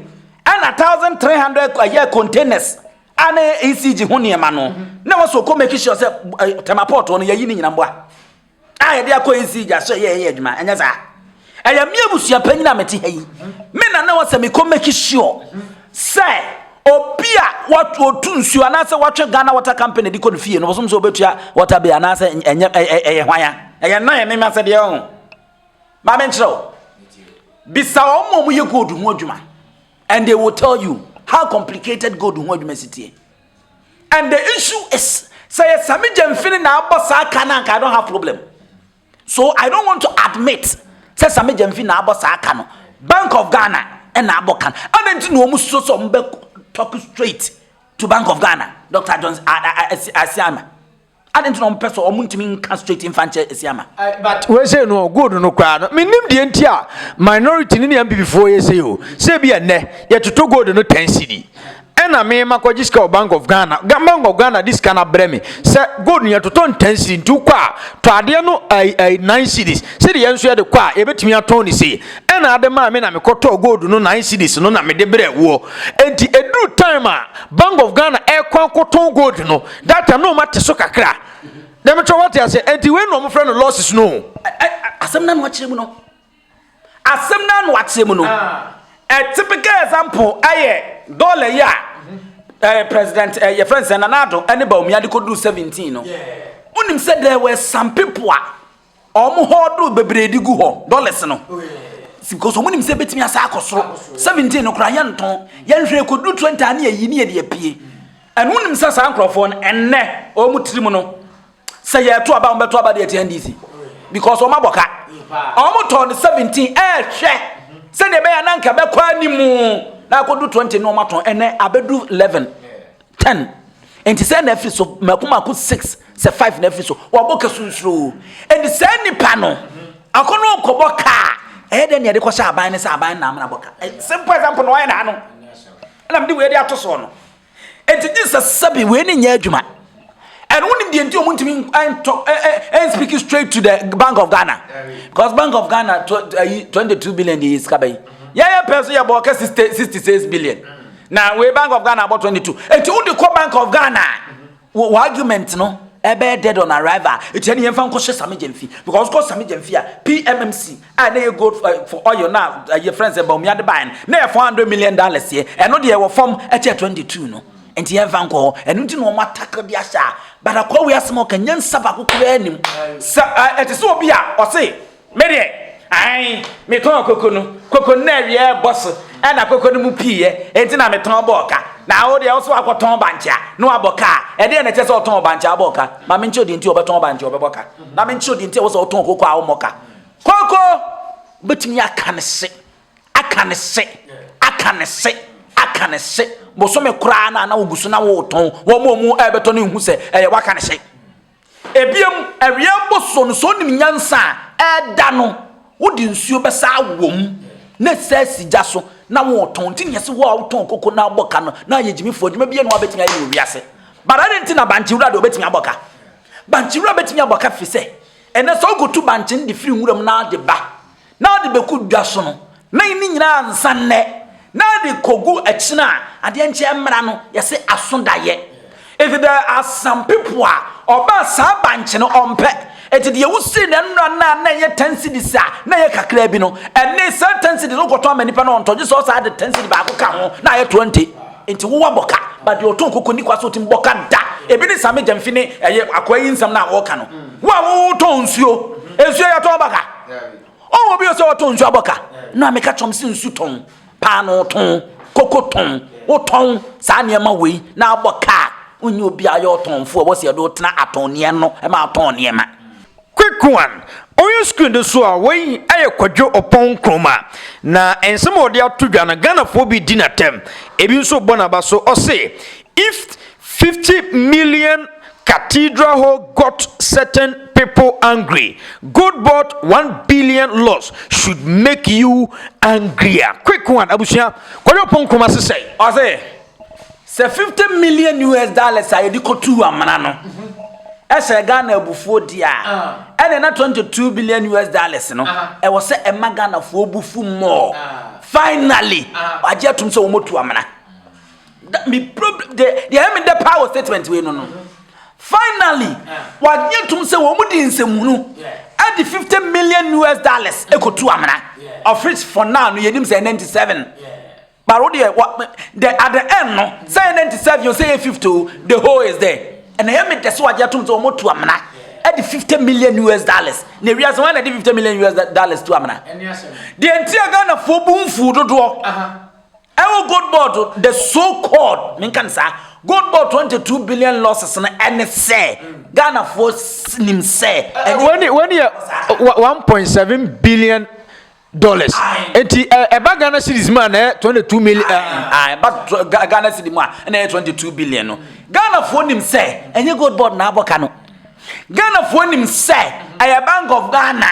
ɛna thousand three hundred ɛyɛ containers a na ɛyɛ ECG ho nneɛma no na wɔsɔ kɔ make sure sɛ tɛmapɔtɔ no yɛyi ne nyina mboa. a yɛde akɔ nsi gya so yɛ yɛ adwuma ɛnyɛ saa ɛyɛ me abusua panyin a mete ha yi me na na wɔsɛ mekɔ make sure sɛ obi a wɔtu nsuo anaasɛ wɔtwe ghana water company de kɔ no fie no wɔsom sɛ wɔbɛtua water bill anaasɛ ɛnyɛ ɛyɛ hwan a ɛyɛ nna yɛ mema sɛdeɛ ɔho ma menkyerɛ wo bisa wɔn ma wɔyɛ gold ho adwuma and they will tell you how complicated gold ho adwuma si tie And the issue is sɛ yɛ sami gyamfini na abɔ saa ka no anka I don't have problem. So I don't want to admit sɛ sami gyamfini na abɔ saa ka no. Bank of Ghana na abɔ ka no. Adɛn nti na wɔn susu sɛ wɔn bɛ talk straight to Bank of Ghana, Dr. Johnson Asiama. Adɛn nti na wɔpɛ sɛ wɔn ntumi nka straight nfa nkyɛ esi ama? Eh, but wei sɛ no good no koraa no menim deɛ nti a minority ne ne mpp foɔ yɛ sei o sɛ bi ɛnɛ yɛtoto gold no 10 cedi ɛna me makɔgye sika wɔ bank of ghana bank of ghana de sika no abrɛ me sɛ gold no yɛtotɔ no 10 cedi nti wokɔ a tɔ adeɛ no ai ai 9 cedis sɛdeɛ yɛn nso yɛde kɔ a yɛbɛtumi atɔn ne sei ɛna ade maa me na mekɔtɔɔ gold no 9 cedis no na mede brɛ woɔ enti ɛduru time a bank of ghana ɛkɔ akɔtɔn gold no That time na ɔma te so kakra. Na me kyerɛ wate ase ɛnti wei na ɔmo frɛ no losses no. Asɛm na no akyerɛ mu no. Asɛm na no akyerɛ mu no. A typical example ɛyɛ dollar yi a ɛɛ president ɛɛ yɛfrɛ nsɛn na n'ado ɛne Bawumia de kɔ duru seventeen no. Wonim sɛ there were some people a Wɔn hɔɔdoo bebree de gu hɔ, dollars no. Because wɔn nim sɛ ebetumi asa akɔ soro. Seventeen no koraa yɛntɔn. Yɛnhwɛ ekodu twenty a ne yɛ yi ne yɛ de apue. Ɛno nim sɛ saa nkorɔfoɔ no ɛnnɛ wɔn tiri mu no sɛ yɛto aba wɔn bɛto aba de atia NDC. Because wɔn abɔ ka. Wɔn tɔn no seventeen ɛɛhwɛ sɛdeɛ ɛbɛyɛ nanka bɛkɔ animu na akodu twenty no wɔn atɔn ɛnɛ abedu eleven. Ten, enti sɛɛ na afiri so, mako mako six, sɛ five na afiri so, wɔabɔ ka sunsuroo. Enti saa nipa no, akɔ no kɔbɔ ka a, ɛyɛ dɛ nea ɛde kɔhyɛ aban no sɛ aban na amena bɔ ka. Eh, simple example na wɔayɛ na ha no. Ɛna mede wei de ato soɔ no. Enti gye sɛ sɛbi wei ne nyɛ adwuma. And when the entire Muntimi and talk eh, eh, eh, and speak straight to the Bank of Ghana. Because Bank of Ghana 22 billion is kabai. Yeah, yeah, person yeah, 66 billion. Na wei Bank of Ghana abɔ 22. Eti wode kɔ Bank of Ghana a, wo argument no ɛbɛyɛ dead on arrival. Eti ɛne yɛmfa nkɔhyɛ Sami Gyamfi. Because kɔ Sami Gyamfi a, PMMC a na ɛyɛ gold eh, for oil na ɛyɛ friends ɛbɔ mmea de ban na yɛ 400 million dollars yɛ. Ɛno deɛ wɔ fam ɛkyɛ 22 no. Enti yɛmfa nkɔ hɔ. Ɛno nti na wɔn atakɔ de ahyɛ a. But akɔ wei asɛm a ɔka nyansa baako koraa nim. Sɛ ɛte sɛ obi a ɔse Me deɛ, ae, metɔn koko no. Koko no na awia rebɔ so na koko no mu piiɛ, enti na metɔn bɔɔ ka. Na wo deɛ, wo nso woakɔtɔn bankye a, na woabɔ ka a, ɛdeɛn na ɛkyerɛ sɛ wotɔn bankye a wobɔɔ ka? Ma menkyerɛ wo deɛ nti a wobɛtɔn bankye a wobɛbɔ ka, na menkyerɛ wo deɛ nti a ɛwɔ sɛ wotɔn koko a wommɔ ka. Koko! Wobɛtumi aka ne se, aka ne se, aka ne se, aka ne se. Bosome koraa no a na wogu so na woretɔn, wɔn a wɔrebɛtɔ no nhu sɛ ɛyɛ woaka ne se. Ebiem, awia mboso no, sɛ onim nyansa a, ɛda no wode nsuo bɛsa awɔ mu na ɛsa asi gya so na wotɔn. Nti na yɛse wo a wotɔn koko na wobɔ ka no na ayɛ gyimifoɔ, adwuma biara nni hɔ a wobɛtumi ayɛ no wɔ wiase. But adɛn nti na bankye wura deɛ obɛtumi abɔ ka? Bankye wura bɛtumi abɔ ka firi sɛ, ɛnnɛ sɛ wokotu bankye no de firi nwura mu na wode ba, na ɔde bɛgu dwa so no, na ne nyinaa ansa nnɛ, na ɛde kɔgu akyina a adeɛ nkyɛn mmara no yɛse aso daeɛ. Enti there are some people a ɔbaa saa bankye no ɔmpɛ. Enti deɛ wosii no nnora no a na ɛyɛ 10 cedis a na ɛyɛ kakraa bi no, ɛnne saa 10 cedis no wokɔtɔn ama nipa no ɔntɔ gye sɛ ɔsan de 10 cedi baako ka ho na ayɛ 20. Enti wo wabɔ ka, but deɛ ɔtɔn koko nni kwa sɛ ɔtumi bɔ ka da. Ebi ne Same Gyamfi ne ɛyɛ akoa yi nsɛm no a wɔreka no. Wo a wotɔn nsuo, nsuo yɛtɔn ba ka? Ɔwɔ bi sɛ ɔtɔn nsu abɔ ka na maame ka kyerɛm sɛ nsu tɔn paano tɔn koko tɔn wotɔn saa nneɛma wei na abɔ ka a wonyɛ obi a yɛ ɔtɔnfo a wɔsɛ yɛde wotena atɔnneɛ no ma atɔn nneɛma. Quick one, Ɔyɛ screen no so a, wei yɛ Kwadwo Ɔpɔn Nkrumah. Na nsɛm a ɔde ato dwa no, Ghanafoɔ bi di no atɛm, ebi nso bɔ n'aba so. Ɔse, If fifty million cathedral hall got certain people angry, good bought one billion loss should make you angrier. Quick one, abusua. Kɔyɛ ɔpon nkruma sesɛe. Ɔse, sɛ fifty million US dollars a yɛde kɔtuu amena no hyɛɛ Ghana abufuo deɛ a, ɛneɛ na twenty two billion US dollars no, ɛwɔ sɛ ɛma Ghanafoɔ bo fu more. Finally, wɔagye atom sɛ wɔatu amena. Da me problem de de ɛyɛ me dɛ paa wɔ statement wei no no finally wɔagye tom sɛ wɔn mu di nsɛmhunu ɛde fifty million US dollars ekotu amena of which for now no yɛnim sɛ ninety seven but wo deɛ wɔ the at the end no sɛ yɛ ninety seven yɛ sɛ yɛ fifty o the whole is there ɛna ɛyɛ me dɛ sɛ wɔagye tom sɛ wɔn tu amena ɛde fifty million US dollars na ewia sɛ wɔn na ɛde fifty million US dollars tu amena deɛ nti a Ghanafoɔ bu nfuo dodoɔ. Ɛwɔ gold board the so called menka no saa gold board twenty two billion losses no ɛne sɛ ghanafoɔ nim sɛ ɛne wɔn yɛ one point seven billion dollars nti ɛba ghana series mu a na yɛ twenty two million ɛba ghana series mu a na yɛ twenty two billion no ghanafoɔ nim sɛ ɛnyɛ gold board na abɔ ka no. Ghanafoɔ nim sɛ ɛyɛ Bank of Ghana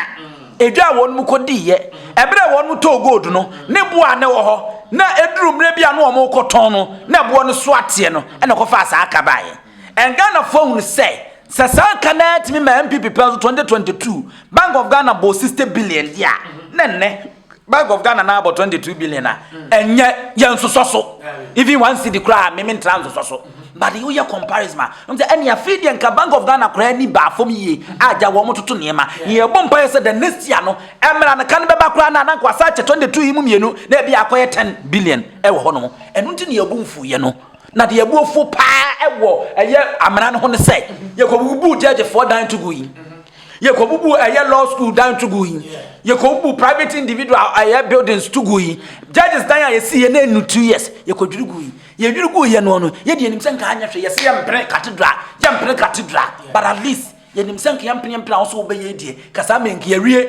edwa a wɔn kɔ diiɛ ɛberɛ a wɔn tɔɔ gold no ne boɔ a na ɛwɔ hɔ na ɛduru mmerɛ bi a na wɔn kɔ tɔn no na boɔ no so ateɛ no ɛna ɛkɔ faa saa ka baeɛ and Ghanafoɔ ahunu sɛ sɛ saa ka no ara tumi ma NPP pɛ so 2022 Bank of Ghana bɔɔ 60 billion deɛ a na ɛnnɛ Bank of Ghana na abɔ 22 billion a ɛnyɛ yɛ nsosɔ so even one cedi koraa a meme ntra nsosɔ so but woyɛ comparison a ɛm sɛ ɛne afei deɛ nka Bank of Ghana koraa ni baa fam yie agya wɔn mo toto nneɛma ne yɛbɔ mpa yɛ sɛ the next year no ɛmmra no ka no bɛba koraa na nanko asa akyɛ 22 yi mu mmienu na ebi akɔyɛ 10 billion ɛwɔ hɔ nom ɛno nti ne yɛbu mfo yɛ no na deɛ ɛbu afuo paa ɛwɔ ɛyɛ amena no ho no sɛ yɛkɔbubu gyɛgyefoɔ dan to gu yi yɛkɔbubu ɛyɛ law school dan to gu yi yɛkɔbubu private individual ɛyɛ buildings to gu yi judges dan a yɛsi yɛ na ɛnu two years yɛkɔdwiri gu yi yɛdwiri gu yɛ no no yɛde yɛnim sɛ nka anyɛ hwɛ yɛsɛ yɛmpene cathedral yɛmpene cathedral but at least yɛnim sɛ nka yɛmpene yɛmpene a wo so wobɛyɛ deɛ kasaa mɛ nka yɛwie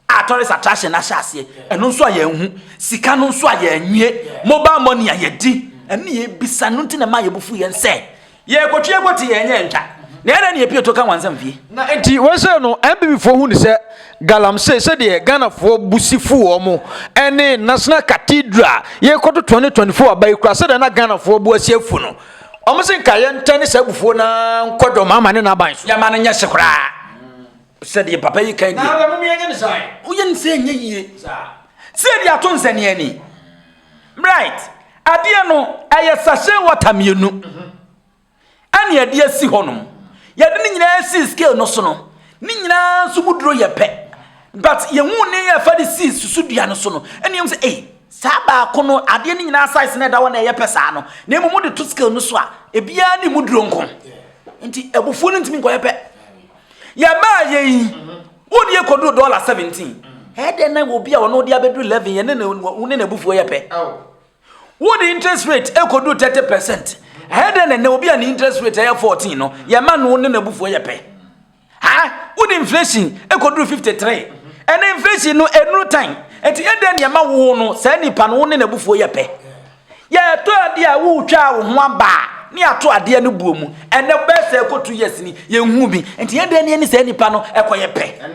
a tourist attraction no ahyɛ aseɛ ɛno nso a yɛnhu sika no nso a yɛnwie mobile money a yɛdi ɛne yɛbisa no nti na ɛma yɛbufu yɛn sɛ yɛkɔtwe ɛkɔte yɛnyɛ ntwa na ɛdɛ ne yɛpie to ka wansa mfie na nti wɔsɛ no mbibifoɔ hu ne sɛ galamsey sɛdeɛ ghanafoɔ bu si fu wɔ mo ɛne national cathedral yɛkɔto 2024 aba yi kura sɛdeɛ na ghanafoɔ bu asi afu no wɔn se nka yɛntɛne saa abufuo na nkɔdɔm ama ne n'aban so yɛma no nyɛ hye koraa sɛ deɛ papa yi kan deɛ woyɛ ne sɛ ɛnyɛ yie sɛ de ato nsɛneani right adeɛ no ɛyɛ sachet water mmienu ɛne ɛde asi hɔ nom yɛde ne nyinaa sii scale no so no ne nyinaa nso mu duro yɛ pɛ but yɛhu ne yɛ fa de sii susu dua no so no ɛne ɛmu sɛ ei saa baako no adeɛ no nyinaa size no ɛda hɔ na ɛyɛ pɛ saa no na mmom de to scale no so a ebiara ne mu duro nko nti abufuo no ntumi nkɔyɛ pɛ Yɛbaa yɛ yi, wo deɛ kɔduru dɔla 17. Ɛyɛ dɛn na obi a ɔno de abɛduru 11 yɛ ne ne wo ne n'abufuo yɛ pɛ? Wo de interest rate kɔduru 30 percent. Ɛyɛ dɛn na ɛnɛ obi a ne interest rate ɛyɛ 14 no yɛma no ne n'abufuo yɛ pɛ? Ha wo de inflation kɔduru 53. Ɛnɛ inflation no ɛnuru tan. Ɛti ɛdɛn na ɛma wo no saa nipa no wo ne n'abufuo yɛ pɛ? Yɛ ɛtɔ adeɛ a wo twaa wo ho aba a ne ato adeɛ no buo mu ɛnɛ wo bɛyɛ sɛ ɛkɔ two years ni yɛ nhu bi nti yɛ deɛ ni ɛni sɛ nipa no ɛkɔ yɛ pɛ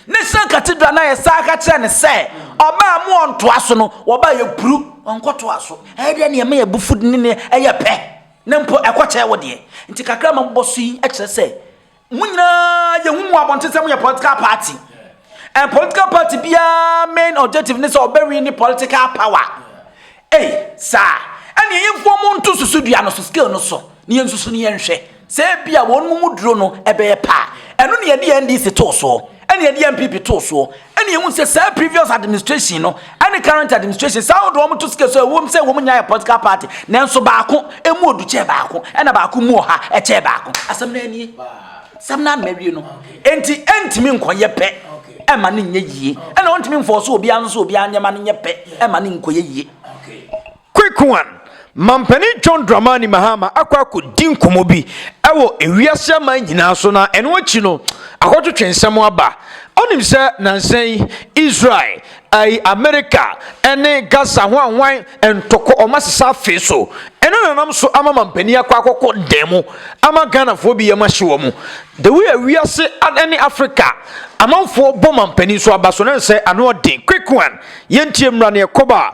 ne sɛ katidra na yɛ saa ka kyerɛ ne sɛ ɔba a mo ɔntoa so no wɔba yɛ puru ɔnkɔ toa so ɛyɛ deɛ ni ɛma yɛ bu food ne ne ɛyɛ pɛ ne mpo ɛkɔ kyɛ wo deɛ nti kakra ma bɔ so yi ɛkyerɛ sɛ Mo nyinaa yɛ hu mu abɔnten sɛ mo yɛ political party. And political party biara main objective ne sɛ ɔbɛwi ne political power. Ei, saa. Ɛne ɛyɛ mfuo mo nto susu dua no so scale no so. Ne yɛn susu ne yɛn hwɛ. Sɛ ebi a wɔn mu duro no ɛbɛyɛ paa. Ɛno ne yɛde NDC too soɔ. Ɛne yɛde NPP too soɔ. Ɛne ehu sɛ saa previous administration no ɛne current administration saa wɔde wɔn to sika so ɛwom sɛ wɔn nyinaa yɛ political party nanso baako emu odu kyɛɛ baako ɛna baako mu ɔha ɛkyɛɛ baako asɛm naa nie sɛm naa na wie no enti ɛntumi nkɔyɛ pɛ ɛma ne nyɛ yie ɛna ɔntumi mfɔɔ so obiara nso obiara nneɛma no nyɛ pɛ ɛma ne nkɔyɛ yie Kwekuwan, Mampanin John Dramani Mahama akɔ akɔdi nkɔmmɔ bi wɔ ewiase aman nyinaa so na ɛno akyi no, akɔtwetwe nsɛm aba. Ɔnim sɛ nnansa yi Israel, ai, Amerika ne Gaza ho anwan ntɔkwa ɔma sesa afee so. Ɛno na ɛnam so ama mampanin akɔ akɔkɔ dan mu ama Ghanafoɔ bi yam ahye wɔn. The way a wiase ne Afrika amanfoɔ bɔ mampanin so aba so no ɛnsɛ ano ɔden. Kwekuwan, Yɛntie mmra ne ɛkɔba a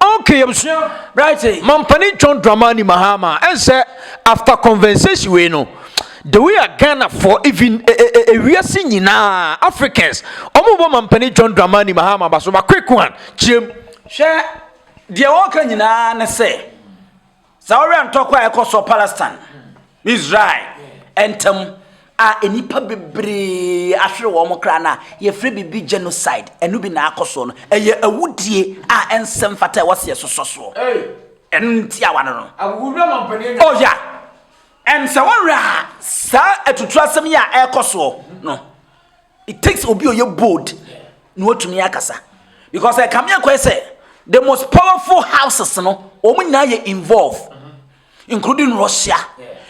Okay yɛbusua Brighton mampani John Dramani Mahama ɛnsɛ after conversation wei no the way a Ghana for even ewiase nyinaa Africans ɔmo bɔ mampani John Dramani Mahama ba so ba quick one kyerɛ mu. Hwɛ deɛ ɔka nyinaa ne sɛ Saa ɔwɛn ntɔkwa a ɛkɔ so Palestine ne Israel ntam a nnipa bebree ahwere wɔn kra no a yɛfrɛ biribi genocide, ɛno bi na akɔ so no. Ɛyɛ awudie a ɛnsɛ mfata a ɛwɔ sɛ yɛsosɔ soɔ. Ɛno ne tiawa no no. Oh yeah. Ɛnsɛ wɔn werɛ a saa atuturasɛm yi a ɛkɔ soɔ no. It takes obi a ɔyɛ bold na watumi akasa because ɛkame akɔɛ sɛ the most powerful houses no wɔn nyinaa yɛ involve including Russia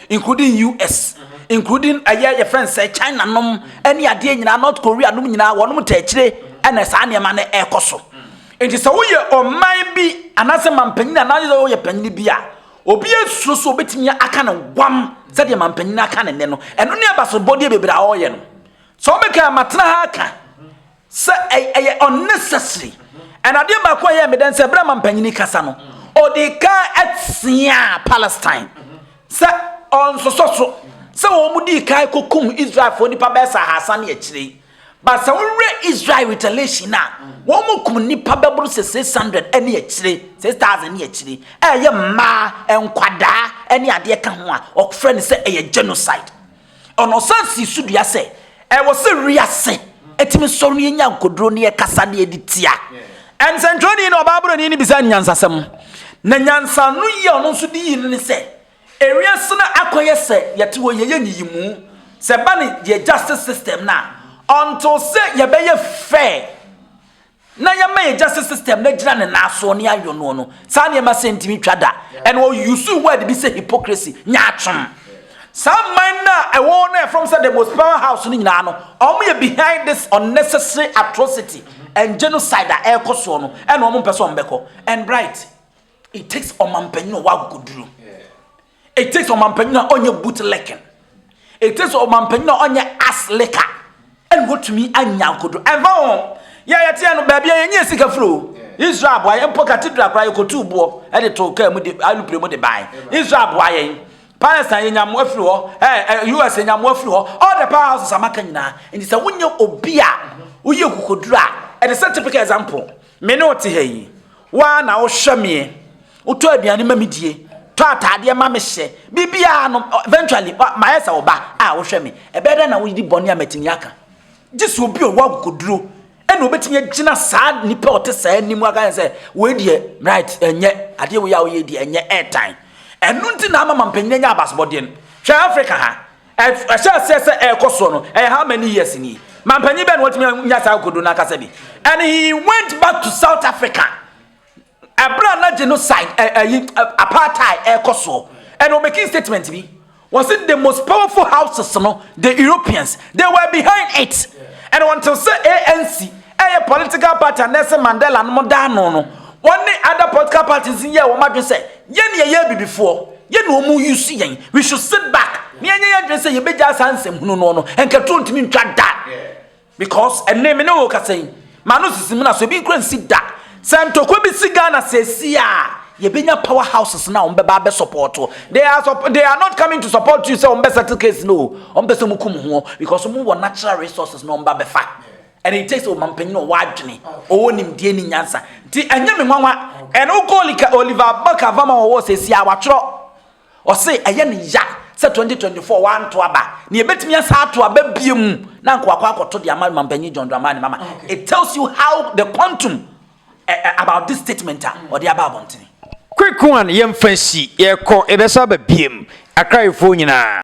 including US including ɛyɛ yɛ friend sɛ China nom ɛne adeɛ nyinaa North Korea nom nyinaa wɔn mo tɛkyire ɛna saa nneɛma no ɛkɔ so nti sɛ woyɛ ɔman bi anaasɛ mampanyin anaasɛ woyɛ panyin bi a obi esuro so obetumi aka ne wam sɛdeɛ mampanyin aka ne nne no ɛno ne abasobɔdeɛ bebree a ɔyɛ no. So wɔn bɛka matena ha aka sɛ ɛyɛ unnecessary ɛna adeɛ baako a ɛyɛ meda nsɛ berɛ ma mpanyini kasa no ɔde ka atia palestine sɛ ɔnsosɔ so sɛ wɔn di kan kɔkum israelfoɔ nipa bɛyɛ sɛ ahasa ne akyire yi ba sɛ wowerɛ israel retaliation a wɔn mu kum nipa bɛboro sɛ 600 ne akyire 6000 ne akyire ɛyɛ mmaa nkwadaa ne adeɛ ka ho a ɔfrɛ no sɛ ɛyɛ genocide Ɔno san sii so dua sɛ ɛwɔ sɛ wiase tumi sɔre na yɛnya nkoduro na yɛkasa na yɛde tia nsɛntwerɛni na ɔbaaborɔni no bisaa no nyansasɛm. Na nyansa no yi a ɔno nso de yii no ne sɛ, ewiase no akɔyɛ sɛ yɛte hɔ yɛyɛ nyiyimu sɛ ɛba ne yɛn justice system no a, until sɛ yɛbɛyɛ fair na yɛma yɛn gya sɛ system no agyina ne nan soɔ ne ayɔ noɔ no saa nneɛma sɛ ntumi twa da and ɔ use word bi sɛ hypocrisy nyaatwom saa mman no a ɛwɔ hɔ no a ɛfam sɛ the most power house no nyinaa no ɔmo yɛ behind this unnecessary atrocity and genocide a ɛrekɔ soɔ no ɛna ɔmo mpɛ sɛ ɔmo bɛkɔ and bright it takes ɔmampanyin a ɔwɔ akokoduro It takes ɔmampanyin a ɔnyɛ boot licking. It takes ɔmampanyin a ɔnyɛ ass licker. Ɛna otumi anya nkodo. Ɛnfa ho yɛ yɛteɛ no baabi a yɛnyɛ sika firi o. Israel aboa yɛn mpo cathedral koraa yɛkɔtuu boɔ de too kaa mu de alupere mu de bae. Israel aboa yɛn. Palestine yɛnya mmoa firi hɔ. Eh, US yɛnya mmoa firi hɔ. All the power houses a maka nyinaa. Nti sɛ wonyɛ obi a woyɛ kokoduro a, it is a typical example. Me ne wo te ha yi, wo ara na wohwɛ meɛ. Wotɔ aduane ma me die, tɔ ataadeɛ ma me hyɛ, biribiara no, eventually, mayɛ sɛ wo ba a wohwɛ me. Ɛbɛyɛ dɛn na wodi bɔne a matumi aka? Gye sɛ obi a ɔwɔ akokoduro ɛna obɛtumi agyina saa nipa ɔte saa anim aka ne sɛ, wei deɛ, right, ɛnyɛ, adeɛ wei a woyɛ deɛ ɛnyɛ, ɛɛtan. Ɛno nti na ama mampanyin anya abasobɔdeɛ no. Hwɛ Africa ha, Ɛhyɛ aseɛ sɛ ɛrekɔ soɔ no ɛyɛ how many years ni mampanyin bɛn na wɔtumi anya saa akodo no akasa bi and he went back to South Africa ɛberɛ a na genocide ɛyi apartheid ɛrekɔ soɔ ɛna wɔn making statement bi wɔn sɛ the most powerful houses no the Europeans they were behind it ɛna wɔn te sɛ ANC ɛyɛ political party a Nelson Mandela no mo daa no no wɔn ne other political parties yɛ wɔn adwene sɛ Yɛn yɛyɛ abibifoɔ, yɛn na wɔn use yɛn. We should sit back na yɛnyɛ yɛn adwene sɛ yɛbɛgyaa saa nsɛm hunu no no. Nka turo ntumi ntwa da. Because ɛnne me ne wo kasa yi, maa no sisi mu na so ebi nkura nsi da. Sɛ ntɔkwa bi si Ghana sɛsi a, yɛbɛnya power houses na wɔn bɛba abɛ support wo. They are, they are not coming to support you sɛ wɔn bɛ settle case no o. Wɔn pɛ sɛ wɔn kum ho because wɔn wɔ natural resources na wɔn ba bɛfa. And it takes ɔmampanyin a ɔwɔ adwene, ɔwɔ nimdeɛ ne nyansa. Nti ɛnyɛ me nwanwa. And wokɔ lika Oliver book ava ma wɔwɔ sɛsi a watwerɛ. Ɔse ɛyɛ ne ya sɛ 2024 wanto aba. Na yɛbɛtumi asan ato aba biom na anka wakɔ akɔto de ama mampanyin John Dramani Mahama. It tells you how the quantum about this statement a ɔde aba abɔntene. Quick one yɛmfa nsi, yɛkɔ, yɛbɛsan aba biom. Akrayefoɔ nyinaa.